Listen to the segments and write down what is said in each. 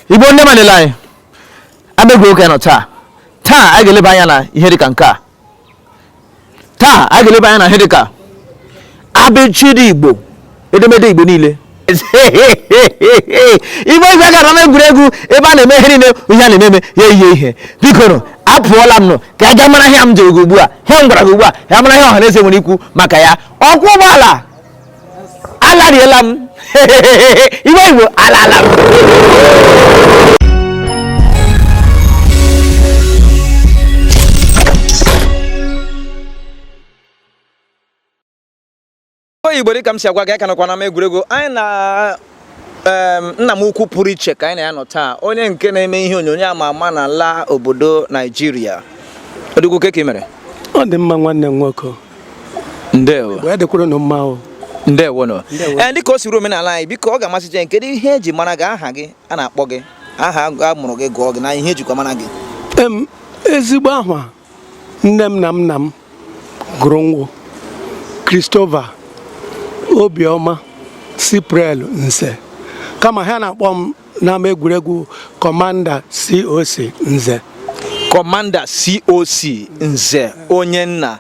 igbo ndị mmadụ la anyị ama egwuregwu ka a nọ taa taa a ga-eleba anya na ihe dịka nke a taa a ga-eleba anya na ihe dịka abịchịdị igbo edemede igbo niile igbo igwe gara na egwuregwu ebe a na-eme ihe niile ihe a na-eme ya ihe ihe biko nụ apụọla m nụ ka a ga mara ihe m jere gị ugbu a ihe m gwara gị ugbu a ya mara ihe ọha na eze nwere ikwu maka ya ọkwọ ụgbọala alariela m igbo igbo alala m igbo dịka m si agwa gị a ka nọkwa n'ama egwuregwu anyị na nna m ukwu pụrụ iche ka anyị na ya nọ taa onye nke na-eme ihe onyonyo ama ama na ala obodo naijiria odogwu kee ka ị mere ọ dị mma nwanne m nwoke ndewo ya dịkwara ụnụ mma o ndewo nnọọ ee dịka o siri omenala anyị biko ọ ga-amasị jen kedu ihe eji mara gị aha gị a na-akpọ gị aha a mụrụ gị gụọ gị na ihe ejikwa mara gị em ezigbo ahwa nne m na nna m Gụrụ m wụ Christopher Obioma Siprel Nze kama ha na-akpọ m n'ama egwuregwu Kọmanda COC Nze kọmanda coc nze onye nna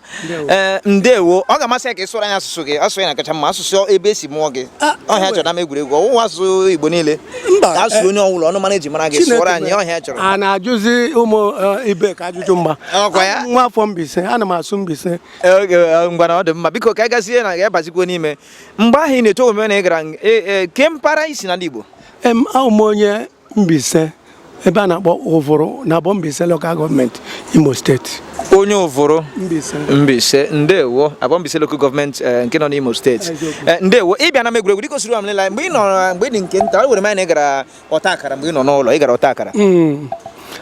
ee eh, ndewo ọ ga-amasị anyị ka ị sụọrọ anyị asụsụ gị asụsụ ya na-akacha mma asụsụ ebe esi mụọ gị ọ ihe a chọrọ n'ama egwuregwu ọwụwa asụsụ igbo niile mba ka a sụrụ onye ọ wụla olu mba eji mara gị sụọrọ anyị ọ ihe a chọrọ a na-ajụzi ụmụ eh, ibe ka ajụjụ mma Ọkwa ya? Abụ m nwa afọ Mbaise ana m asụ Mbaise ngwanụ ọ dị mma biko ka anyị gazie na ya bazikwa n'ime mgbe ahụ ị na-eto omume na ị gara ng- e- e, kee mpaghara i si n'ala Igbo em awụ m onye Mbaise ebe a na-akpọ ụvụrụ na abọ Mbaise lokal gọọmenti Imo steeti onye ụvụrụ Mbaise ndewo abọ Mbaise lokal gọọmenti eh, nke nọ n'Imo steeti eh, ndewo ị bịa n'ama egwuregwu dịka o siri amlila mgbe ị nọ mgbe ị dị nke nta o were m anya na ị gara ọta akara mgbe ị nọ n'ụlọ ị gara ọta akara hmm.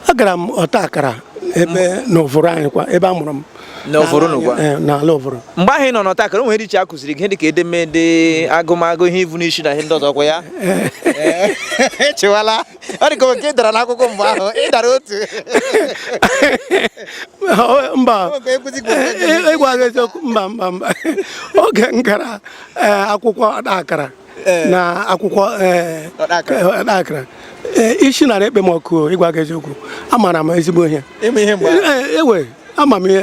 agara m ọta akara ebe na ụvụrụ anyị kwa ebe a mụrụ m n'ụvụrụ n'ụgwa eh, n'ala ụvụrụ mgbe ahụ ị nọ n'ọta akara o nwere ihe a kụziri gị dịka edemede agụmagụ ihe ivu n'isi na ihe ndị ọzọ ọkwa ya eh. eh. chịwala ọ dị ka nke ị dara n'akwụkwọ mgbe ahụ ị dara otu mba ịgwa gị eziokwu mba mba mba oge m gara eh, akwụkwọ ọta akara eh. na akwụkwọ eh, ọta akara isi nara ekpe m ọkụ ịgwa gị eziokwu amara m ezigbo ihe ewe ama m ihe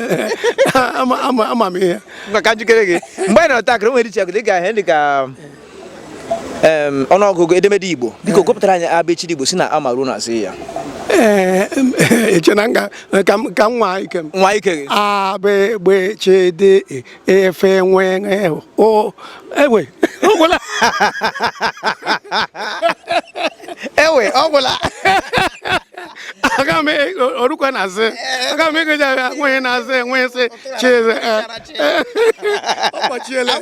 ama m ihe mgbe anyị nọ ọta akara o nwere ihe ị ga-ahụ dị ka ọnụọgụgụ edemede Igbo biko gụpụtara anyị abịchịdị Igbo si na a ma ruo na zị ya Eh, eche na nga eh, ka m nwaa ike m nwaa ike gị a b gb ch d e, f nwe o ewe ọgwụla ewe ọgwụla aga m e, o rukwa na zị aga m ịgụja ya nweghị na azị enweghị sị chieze eh, ọkpọchiele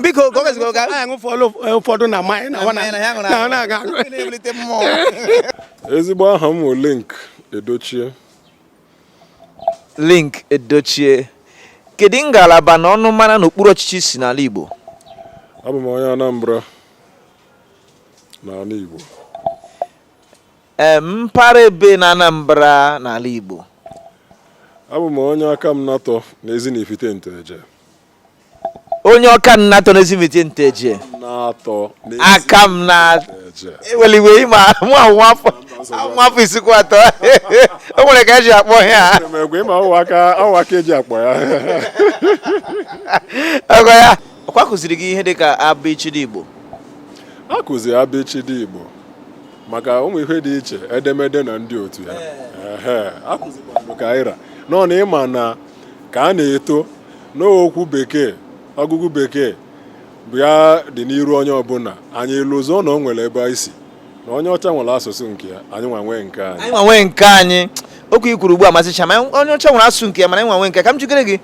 biko ụfọdụ na ezigbo aha m linc edochie linc edochie kedu ngalaba na ọnụmara n'okpuru ọchịchị i si n'ala Igbo abụ m onye Anambra n'ala Igbo mpaghara ebe na Anambra n'ala Igbo abụ m onye akamanatọ n'ezi na ifite nteje onye akamanatọ n'ezi na ifite nteje natọ aka m na eweliwe ịma mụ anwụ afọ nwa afọ isikwa atọ o nwere ka e ji akpọ ya ọwaka e ji akpọ ya ọgọ ya ọ kwa a kụziri gị ihe dịka abịchịdị igbo a kụziri abịchịdị igbo maka ụmụ ihe dị iche edemede na ndị otu ya akụzikwanụ ka anyị ra nọ na ị ma na ka a na-eto n'okwu bekee ọgụgụ bekee bụ ya dị n'iru onye ọbụla anyị lọzọọ na o nwere ebe anyị si na onye ọcha nwere asụsụ nke ya anyị nwa nwee nke anyị nwa nwee nke anyị okwu i kwuru ugbu a masịcha m onye ọcha nwere asụsụ nke ya mana anyị nwa nwee nke ka m jikere gị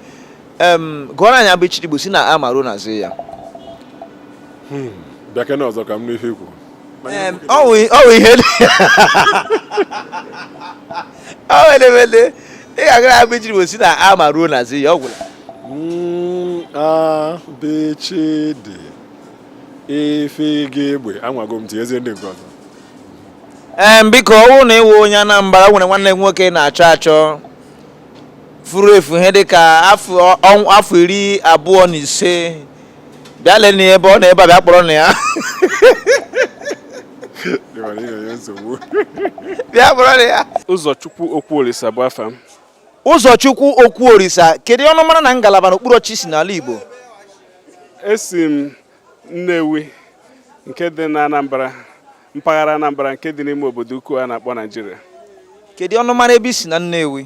gụọrọ anyị abịchịdị Igbo si na a ma ruo na zị ya hmm, bịakene ọzọ ka m nụ ihe i kwu ọ wụ ihe edemede ị ga-agụra abịchịdị Igbo si na a ma ruo na zị ya ọ gwụla hmm, a b ch d e f g gb anwago m tinyezie ndị nke ọzọ ee biko ọ bụrụ na ị wụ onye Anambra o nwere nwanne m nwoke na-achọ achọ furu efu ihe dịka afọ iri abụọ na ise bịa lele ya ebe ọ nọ ebe a bịa kpọrọnụ ya bịa kpọrọnụ ya ụzọchukwu okwuolisa bụ afa m ụzọchukwu okwuolisa kedu ọnụmara na ngalaba n'okpuru ọchịchị i si n'ala igbo esi m nnewi nke dị na anambra mpaghara anambra nke dị n'ime obodo ukwu a na-akpọ naijiria kedu ọnụmara ebe i si na nnewi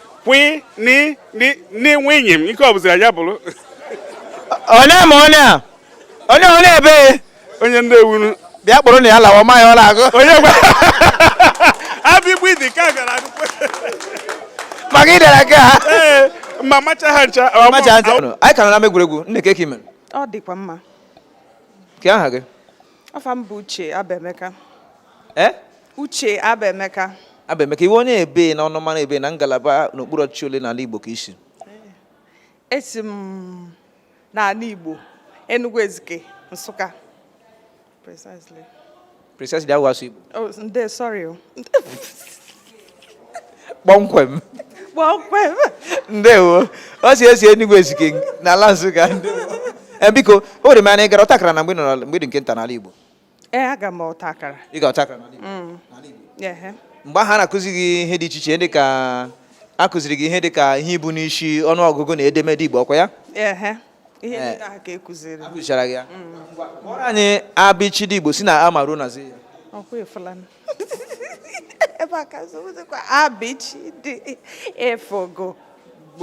kwi ni ni ni nwunye m ike ọ bụzira ya bụrụ onye ma onye a onye onye ebe onye nnewi bịa kpụrụ na ya lawa ma ya ọ na-agụ onye gwa abịchịdị ka gara akwụkwọ maka ịdara ka ha ee ma macha ha ncha ọ ma- macha ntị anyị ka nọ n'ama egwuregwu nne kee ke i mere ọ dịkwa mma kee aha gị afa m bụ uche abemeka ee uche abemeka abemeka ị wụ onye ebee na ọnụmara ebee na ngalaba n'okpuru ọchịchị ole n'ala igbo ka i si esi m n'ala igbo enugu ezike nsụka precisely precisely awụghị asụsụ igbo oh ndo sorry o kpọmkwem kpọmkwem ndewo o si esi Enugu Ezike n'ala Nsụka eh, biko ewere m anya ị gara ọtakara na mgbe nọrọ mgbe ị dị nke nta n'ala Igbo ee eh, aga m ọtakara ị ga ọtakara n'ala Igbo mm. mgbe ahụ a na-akụzi gị ihe dị iche iche dị ka a kụziri gị ihe dị ka ihe ibu n'isi ọnụọgụgụ na edemede Igbo ọkwa ya ihe eh. ndị ahụ ka a kụziri a kụzichara gị ya mm. kpọrọ anyị abịchịdị Igbo si na a ma ruo na zi ya ebe a ka zụzikwa abịchịdị e f g gb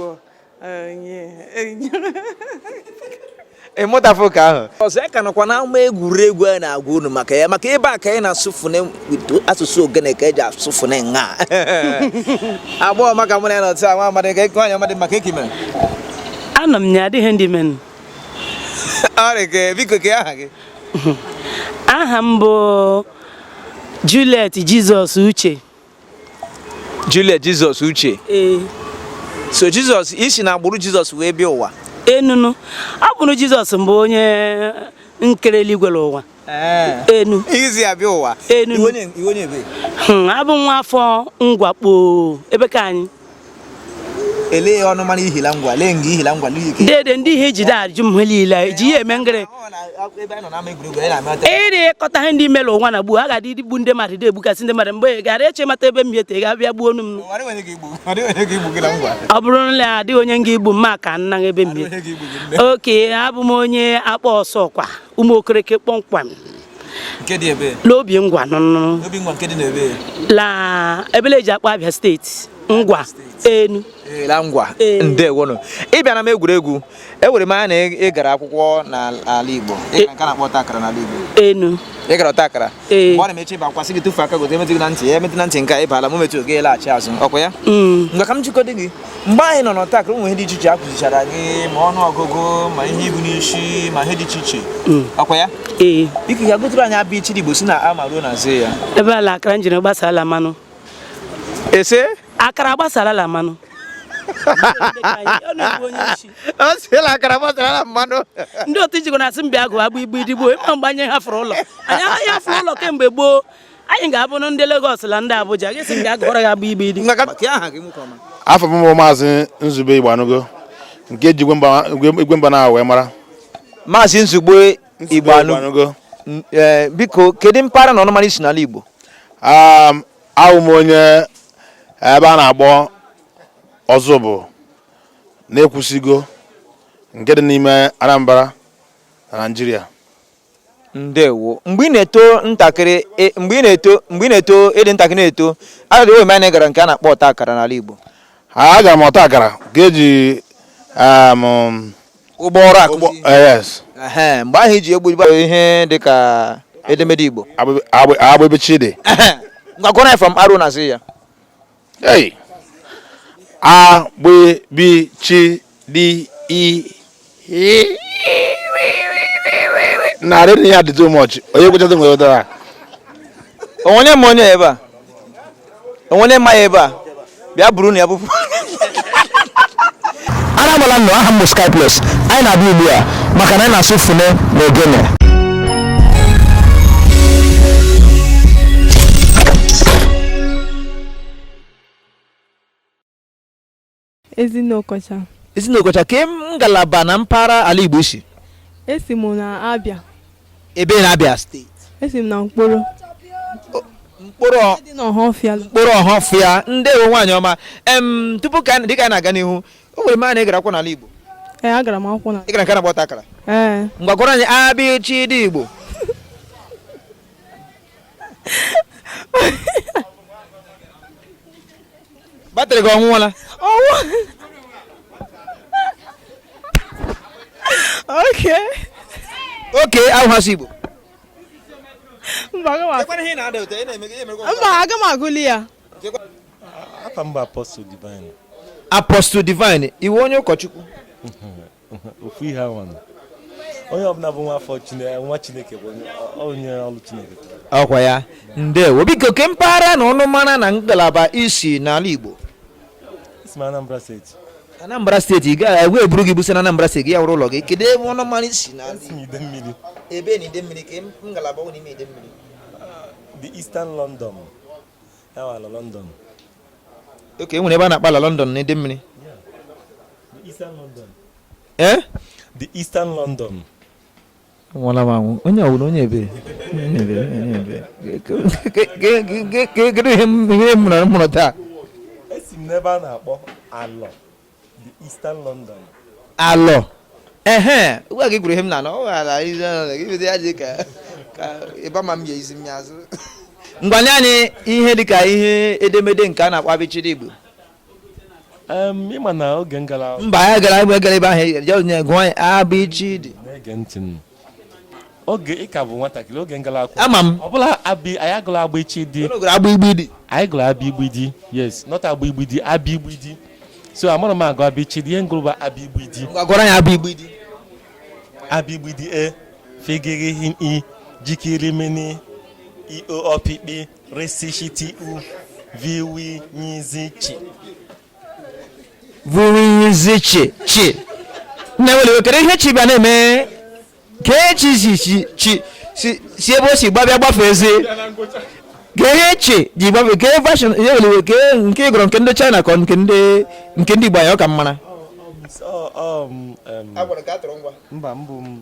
onye ịmụtafụ ka ahụ ọzọ anyị ka nọkwa n'ama egwuregwu a na-agwa unu maka ya maka ebe a ka anyị na-asụ fone asụsụ ogene ka e ji asụ fone nwa agbọghọ ọma ka mụ na ya na ọtụ nwa amadị ka nwaanyị amadị maka ke i mere anọ m ya adịghị ndị men ọrịa ka biko kee aha gị aha m bụ Juliet Jizọs Uche Juliet Jizọs Uche ee so Jizọs i si na agbụrụ Jizọs wee bịa ụwa enunu agbụrụ Jizọs mbụ onye nkere eluigwe la ụwa enu i si abịa ụwa enu abụ m nwa afọ Ngwa kpọọ ebee ka anyị ele ọnụmara i hi la ngwa lee nga i hi la ngwa dede ndị ihe i ji da ajụ m ihe niile e ji ihe eme ngịrị ịrị ịkọta ihe ndị mere ụwa na gboo a ga-adị igbu ndị mmadụ dị egbukasị ndị mmadụ mgbe gara eche mata ebe m hete ga abịa gbuonụ m ọ bụrụ na adịghị onye nga igbu m ma ka nna ebe m okay abụ m onye akpaa ọsọkwa ụmụ okereke kpọmkwem nke dị ebee n'obingwa nụnụ obingwa nke dị n'ebee la ebele e ji akpọ abịa steeti ngwa enu la ngwa ndewonụ ị bịa n'ama egwuregwu ewere m anya na ị gara akwụkwọ n'ala Igbo e- nke a na-akpọ ọta akara n'ala Igbo enu ị gara ọta akara e- mgbe ọ na-emechi ịba akwasị gị tụfee aka gote emetụ gị na ntị ya emetụ na ntị nke ị bala ma emetụghị ị laghachi azụ ọkwa ya mm. ngwa ka m jụgodị gị mgbe anyị nọ n'ọta akara ụmụ ihe dị iche iche a kụzichara gị ma ọnụ ọgụgụ ma ihe ibu n'isi ma ihe dị iche iche hmm. ọkwa ya ee biko ya gụtụrụ anyị abịchịdị igbo si na ama ruo na zi ya ebe ala akara njiri gbasara mmanụ ị sị akara gbasara mmanụ ọ sị la akara gbasara mmanụ ndị otu ijikọ na-asị m bịa gụọ abịgbịdị igbo ịma mgbe anyị hafụrụ ụlọ anyị hafụrụ ụlọ kemgbe gboo anyị ga-abụ ndị Lagos na ndị Abuja gị sị m bịa gụọrọ ya abịgbịdị afa m bụ maazị Nzube Igbanugo nke ji igwe mba na wee mara maazị Nzube Igbanugo e, biko kedu mpaghara na ọnụmara ị si n'ala Igbo awụ m onye ebe a na-akpọ Ọzụbụ na Ekwusigo nke dị n'ime Anambra na Naịjirịa ndewo mgbe ị na-eto ntakịrị e, mgbe ị na-eto mgbe ị na-eto ịdị ntakịrị na-eto ewere m ya na ị gara nke a na-akpọ ọta akara n'ala Igbo agara m ọta akara ka e ji um, ụgbọ ọrụ akụzi eh, mgbe ahụ e ji egbu ihe dị ka edemede Igbo agbịbịchịdị ngwa gụọrọ anyị from A ruo na zi ya Hey! A, GB, B, CH, D, E, E. Narị na ya dị too much. Onye kwechata nwere ụdara. onwere m onye ebe a onwere mma ya ebe a bịa burunụ ya bupụ Ara agbala nnọọ aha m bụ Sky Plus. Anyị na-abịa ugbu a maka na anyị na-asụ fune na ogene. Ezinne Okocha. Ezinne Okocha ke ngalaba na mpaghara ala Igbo ị si. Esi m na Abia. Ebe na Abia steeti. Esi m na Nkporo. Nkporo Ọhafịa ndewo nwaanyị ọma em tupu dịka anyị na-aga n'ihu ewere m ya na ị gara akwụkwọ n'ala Igbo. Ee agara m akwụkwọ n'ala. Ị gara nke a na-akpọ ọta akara. Ee. Ngwa gụọrọ anyị abịchịdị Igbo. batrị gị ọ nwụọla ọnwụ okay okay ahụhasị igbo mba aga m agụli ya apostle divine apostle divine ị wụ onye ụkọchukwu ofu ihe ahụ onye ọbụla bụ nwa afọ nwa chineke bụ onye ọrụ chineke ọkwa ya ndewo biko ke mpaghara na ọnụ mara na ngalaba ị si n'ala igbo anambra steeti anambra steeti ị ga-ekwe e buru gị busi na anambra steeti ya wụrụ ụlọ gị kedu ebe ọnụ mara ị si na ebe na idemmiri ke ngalaba nọ n'ime idemmiri the eastern london okay e nwere ebe a na-akpọ Alọ London na Idemmili eh? the Eastern London nwụla m anwụ onye ọwụrụ onye ebere kedu ihe m mụrụ taa esi m n'ebe a na-akpọ Alọ alọ ehe ugwa gị gwuru ihe m na ọ ghara izi ya dị ka ịba ma m ya izi m ya azụ ngwa nye anyị ihe dịka ihe edemede nke a na-akpọ abịchịdị igbo ịma na oge m gara mba ya gara ebe gara ebe ahụ ya gụọ abịchịdị oge ị ka bụ nwatakịrị oge m gala akwụkwọ ama m ọ bụla abi anyị agụla abịchịdị unu gụrụ agbịgbịdị anyị gụrụ abịgbịdị yes not agbịgbịdị abịgbịdị so amarọ m agụ abịchịdị ihe m gụrụ bụ abịgbịdị ngwa gụọrọ anyị agbịgbịdị abịgbịdị e fegere hin i jikiri mini i o ọpịkpị resishiti u viwi nyizi chi vi wi yi zi chi chi nne ewela iwe kedu ihe chi bịa na-eme ka echi si si chi si si ebe o si gbabịa gbafezi kee ihe chi ji gbafe kee fashion ewela iwe kee nke ị gụrụ nke ndị china ka ọ nke ndị nke ndị igbo anyị ọ ka m mara Ọ- ọ m, em, mba mbụ m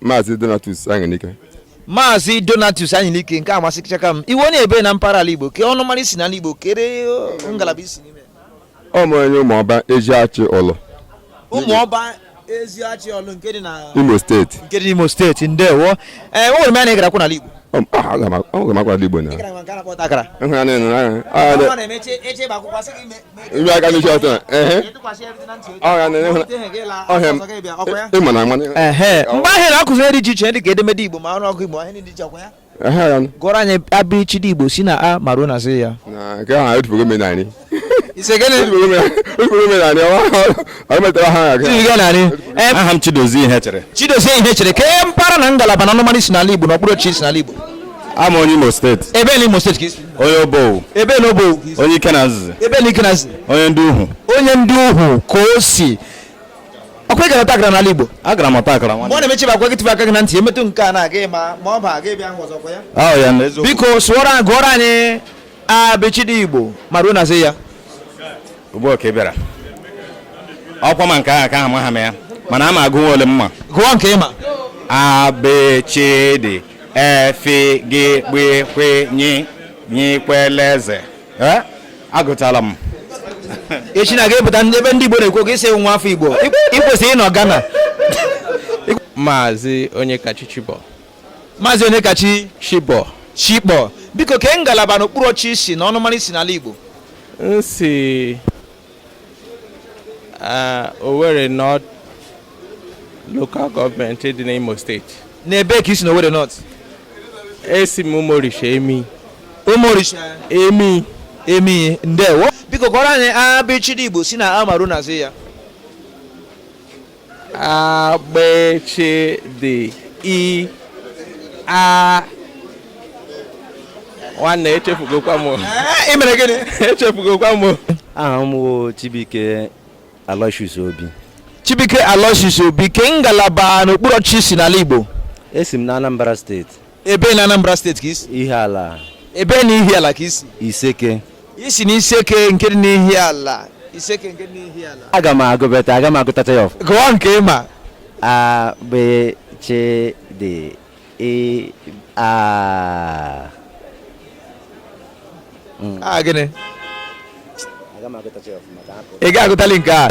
Maazị Donatus Anyanike Maazị Donatus Anyanike nke amasịchaka m ị wụ onye ebe na mpaghara ala Igbo kee ọnụmara i si n'ala Igbo kere ngalaba i si n'ime a wụ m onye ụmụọba Eziachi Ọlụ ụmụọba Eziachi Ọlụ nke dị na Imo steeti nke dị n'Imo steeti ndewo ee ewere m ya na ị gara akwụkwọ n'ala Igbo agara m akwụkwọ n'ala Igbo na ịhụnanya na-emeche ebe akwụkwọ sị gị ibe aka n'isi ọtọ ịma na mgbe ahụ a na-akụzi ihe dị iche iche dị ka edemede igbo ma ọnụọgụ igbo ahụ dị iche ọkwa ya gụọrọ anyị abịchịdị igbo si na a ma ruo na zị ya nke ahụ anyị tufugo menarị aha m chidozie ihechere chidozie ihechere kee mpaghara na ngalaba na ọnụmara i si n'ala igbo na okpuru ọchịchị i si n'ala igbo a wụ m onye imo steeti ebe na imo steeti ka i si onye obowo ebe na obowo ka i si onye ikenanzizi ebe na ikenanzizi onye ndị uhu onye ndị uhu ka o si ọkwa ị gara ọta akara n'ala igbo agara m ọta akara mgbe ọ na-emechi bakwa gị tụba aka gị na ntị emetụ nke a na-aga ịma ma ọ ba gị bịa hụ ọzọkwa ya ọ wụ ya na eziokwu biko sụọrọ anyị gụọrọ anyị abịchịdị igbo ma ruo na zị ya ugbu a ka ị bịara ọkwa ma nke ahụ ka amaha m ya mana ama m agụ nwa ole m ma gụọ nke ị ma abịchịdị efi gị gbikwe nyi nyikwele eze Eh, agụtala m echi na ga-epụta ndị- ebe ndị igbo na-ekwu okwu isi nwa afọ igbo ị kwesịrị ịnọ Ghana maazị Onyekachi Chibọ maazị Onyekachi Chibọ chikpọ biko kee ngalaba n'okpuru ọchị i si na ọnụmara i si n'ala igbo m si Uh, Owerri North local gọọmenti dị n'Imo steeti. N'ebe ka i si na Owerri North? Esi m Umuorisha Emii. Umuorisha? Emii. Emii, ndewo. Biko gụọrọ anyị abịchịdị Igbo si na A ma ruo na Z ya. agbịchịdị i a nwanne echefugokwa m ị mere gịnị echefugokwa m aha m wụ Chibuike Aloysius Obi Chibuike Aloysius Obi kee ngalaba n'okpuru ọchịchị i si n'ala Igbo esi m na Anambra steeti Ebe na Anambra steeti ka i si? Ihiala. Ebe na Ihiala ka i si? Iseke. I si na Iseke nke dị n'Ihiala. Iseke nke dị n'Ihiala. Aga m agụbeta, aga m agụtacha ya ọfụma. Gụọ nke ị ma. A B C D E A hmm. aha gịnị ị ga-agụtali nke a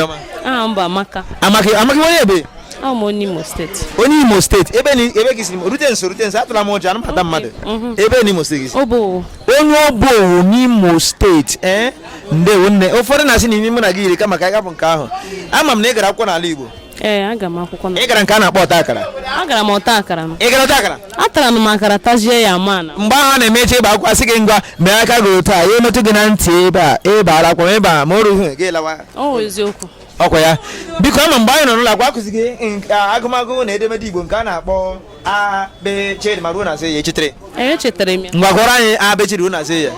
aha m bụ amaka amaka amaka onye ebe onye imo steeti onye imo steeti ebe ebe gị si rute nso rute nso atụla m ụjọ anaghị m ata mmadụ mhm. ebe n'imo steeti gị onye obowo n'imo steeti ee eh? ndewo nne ụfọdụ na-asị na imi mụ na gị yiri kama ka anyị ghapụ nke ahụ ama m na ị gara akwụkwọ n'ala igbo ee agara m akwụkwọ na ị gara nke a na-akpọ ọta akara agara m ọta akara m ị gara ọta akara atara m akara tajie ya mana mgbe ahụ a na-eme ị chọọ ịba akwụkwọ a sị gị ngwa mee aka gị otu a ya emetụ gị na ntị ebe a ị bara akwụkwọ ebe a ma o rughị gị lawa ọ wụ eziokwu ọ kwa ya biko ama m mgbe anyị nọ n'ụlọ akwụkwọ akụzi gị nka- agụmagụ na edemede igbo nke a na-akpọ A, B, C ma ruo na Z ya i chetere. Ee, echetara m ya. Ngwa gụọrọ anyị A, B, C ruo na Z ya.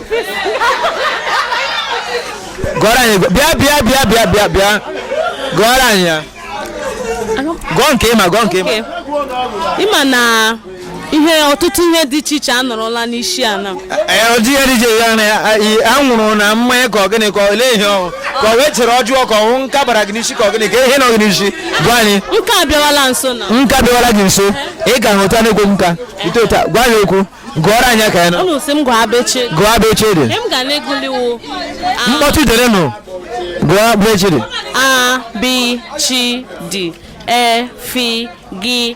Gụọrọ anyị bịa bịa bịa bịa bịa bịa. Gụọrọ anyị ya. Gụọ nke ị ma gụọ nke ị ma. Ị ma na ihe ọtụtụ ihe dị iche iche anọrọla n'isi a na ọjị ya dịje ya na anwụrụ na mmanya ka ọ gịnị ka olee ihe ọ wụ ka ọ wụ echiche ọjọọ ka ọ wụ nka bara gị n'isi ka ọ gịnị ka ihe nọ gị n'isi gwa anyị nka abịawala nso na nka abịawala gị nso ị ga-ahụta n'egwu nka ite ụta gwa anyị okwu gụọrọ anyị ka ya na unu si m gụọ abịchịdị gụọ abịchịdị m ga na-eguliwo mkpọtụ derenụ gụọ abịchịdị a b chi d e fi gi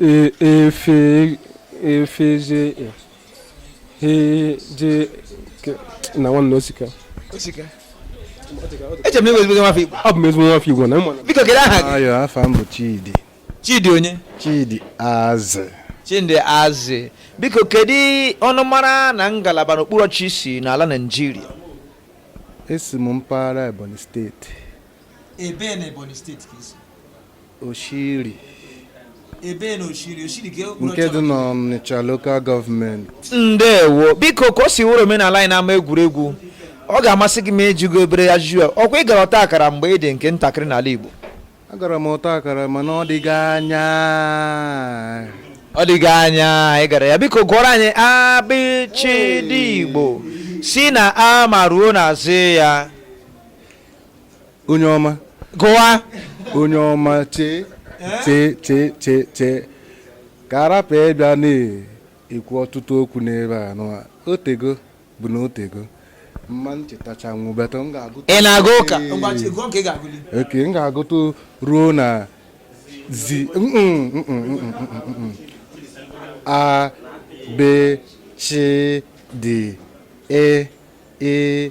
E, e, fe, e, fe, je, e. He, je, ke. Nna nwanne o sika. O sika. Eche m na ị wụ ezigbo nwafọ Igbo. Abụ m ezigbo nwafọ Igbo nna ị ma na. Biko kedu aha gị? Ayo afa m bụ Chidi. Chidi onye? Chidi Azị. Chidi Azị. Biko kedu ọnụmara na ngalaba na okpuru ọchịchị i si n'ala Naịjirịa? Esi m mpaghara Ebonyi steeti. Ebee na Ebonyi steeti ka i si. Oshiri ebee na Oshiri Oshiri nke dị n'Ọnịcha lokal gọọmenti ndewo biko ka o si wụrụ omenala anyị n'ama egwuregwu ọ ga-amasị gị ma a jụọ gị obere ajụjụ ọ kwa ị gara ọta akara mgbe ị dị nke ntakịrị n'ala Igbo agara m ọta akara mana ọ dịghị anya ọ dịghị anya ị gara ya biko gụọrọ anyị abịchịdị Igbo si na a ma ruo na zi ya onye ọma gụwa onye ọma chee chee chee chee chee ka a rapụ ịbịa na-ekwu ọtụtụ okwu n'ebe a nụwa o tego bụ na o tego ma m chetacha nwụbata m ga-agụ ị na-aga ụka okay m ga-agụtụ ruo na zi a b c d e e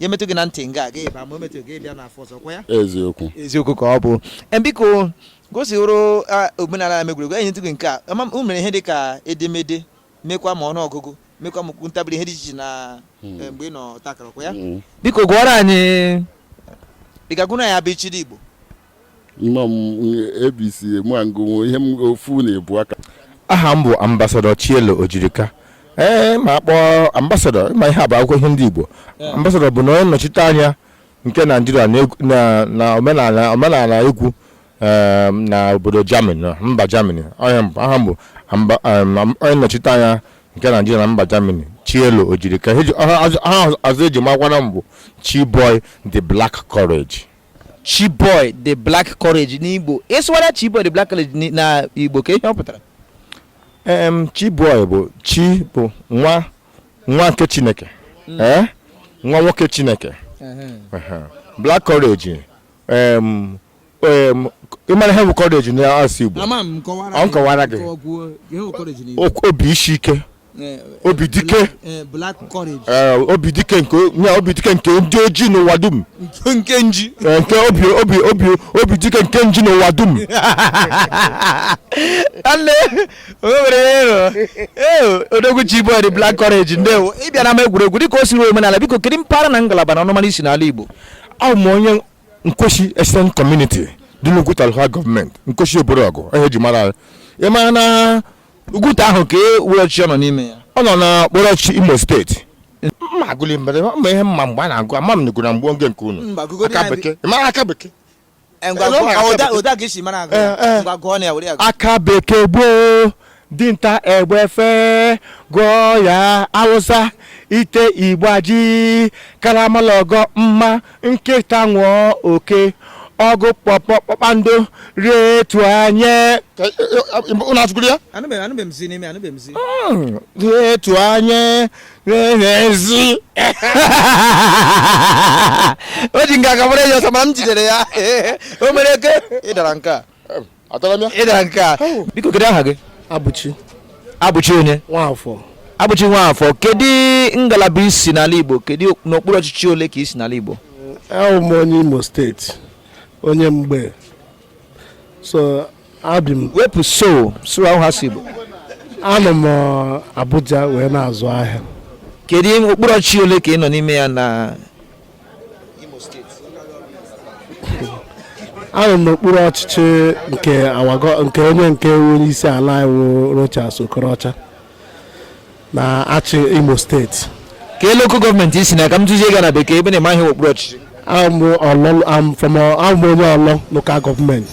ya emetụ gị na ntị nga aga ịba ma o metụghị ị bịa n'afọ ọzọ ọ kwa ya eziokwu eziokwu ka ọ bụ Em, biko ka o si wụrụ a, omenala n'ama egwuregwu e nyetụ gị nke a ama m- unu mere ihe dị ka edemede mekwa ma ọnụ ọgụgụ mekwa ma okwu ntabi ire ihe dị iche iche na eh, mgbe ị nọ ọta akara ọ kwa ya Mm. biko gụọrọ anyị ị ga-agụrụ anyị abịchịdị Igbo Nnọọ m ABC Emuangonwo ihe m ofu na ebu aka. aha m bụ ambasadọ Chielo Ojirika ee ma a kpọọ ambasadọ ma ihe a bụ akwụkwọ ihe ndị Igbo ambasadọ bụ na onye nnọchite anya nke Naijiria na egwu- na- na omenala omenala egwu ee, na obodo Germany na mba Germany Onye m- aha m bụ amba- em, am- onye nnọchite anya nke Naijiria na mba Germany Chielo Ojirika Ihe eji- aha aha ọzọ eji makwana m bụ Chiboy the Black Courage Chiboy the Black Courage n'Igbo ị sụgharịa Chiboy the Black Courage na Igbo kee ihe ọ pụtara em Chiboy bụ chi bụ nwa nwa nke Chineke mm. eh? nwa nwoke Chineke Black Courage em ị mara ihe bụ courage na asụsụ Igbo ọ m kọwaara gị obi isi ike eh, obi dike eh, black courage eh, obi dike nke ya obi dike nke ndị ojii n'ụwa dum nke nke nji Eh, nke obi obi obi obi dike nke nji n'ụwa dum nne o nwere ihe ịrụ ee odogwu Chiboy the black courage ndewo ị bịa n'ama egwuregwu dịka o si ruo omenala biko kedu mpaghara na ngalaba na ọnụmara i si n'ala igbo abụ m onye Nkwesi eastern community dị n'Ugwuta local gọọmenti Nkwesi obodo ọgụ ihe e ji mara anyị. ị mara na Ugwuta ahụ ka e were ọchịchị ọ nọ n'ime ya ọ nọ n'okpuru ọchịchị Imo steeti mma agụli mbere ma ihe m ma mgbe a na-agụ ama m nigụ na mgbe oge nke unu Mba, gụgodi aka anyị. bekee ị mara aka bekee Eh, ngwa Eh, gụọ- n'ụlọ ọ, ụda- akwụkwọ. ụda ka i si mara agụ Eh, ya. eh. Ngwa gụọ na ya were ya gụọ. aka bekee gboo dinta egbe fe gụọ ya awụsa ite ịgba ji karama la ọgọ mma nkịta ṅụọ oke ọgụ pọpọ kpakpando rie etu anya ụlọ atụkwuru ya rie etu anya n'ezi o ji nga ka mara ya ọsọ mana m jidere ya o mere eke ị dara nke a Adara m ya? Ị dara nke a. Biko kedu aha gị? Abụchi. Abụchi onye? Nwafọ. Abụchi Nwafọ, kedu ngalaba i si n'ala Igbo? Kedu n'okpuru ọchịchị ole ka i si n'ala Igbo? Awụ m onye Imo steeti, onye Mgbee. So ebi m. Wepụ so, so ahụ ha si Igbo. Anọ m uh, Abuja wee na-azụ ahịa. Kedu okpuru ọchịchị ole ka ị nọ n'ime ya na anọ m n'okpuru ọchịchị nke awago nke onye nke onye isi ala anyị wụ Rochas Okorocha na-achị Imo steeti kee local gọọmenti i si na ka m jụzie gị na bekee ebe ị na-amaghị okpuru ọchịchị I'm from awụ m onye Orlu local gọọmenti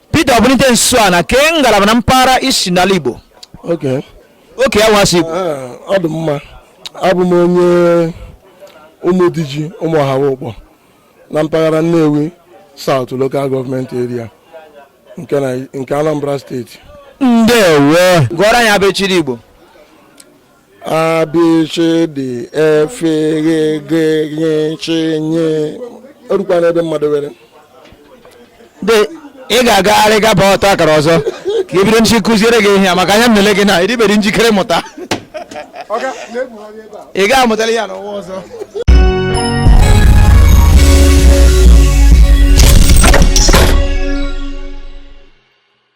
Peter Obunike Nsọana kee ngalaba na mpaghara i si n'ala Igbo okay okay awụsị Igbo ọ dị mma abụ m onye ụmụdiji ụmụọhama ụkpọ na mpaghara Nnewi South Local Government Area nke Anambra steeti ndewo gụọrọ anyị abịchịdị Igbo abịchịdị efeghegegechinye o rukwa n'ebe mmadụ were dị ị ga-agagharị gaba ọtọ akara ọzọ ka ị bido nchi kụziere gị ihe a maka anya m nele gị na ị dịbeghị njikere mụta ị ga-amụtali ya n'ụwa ọzọ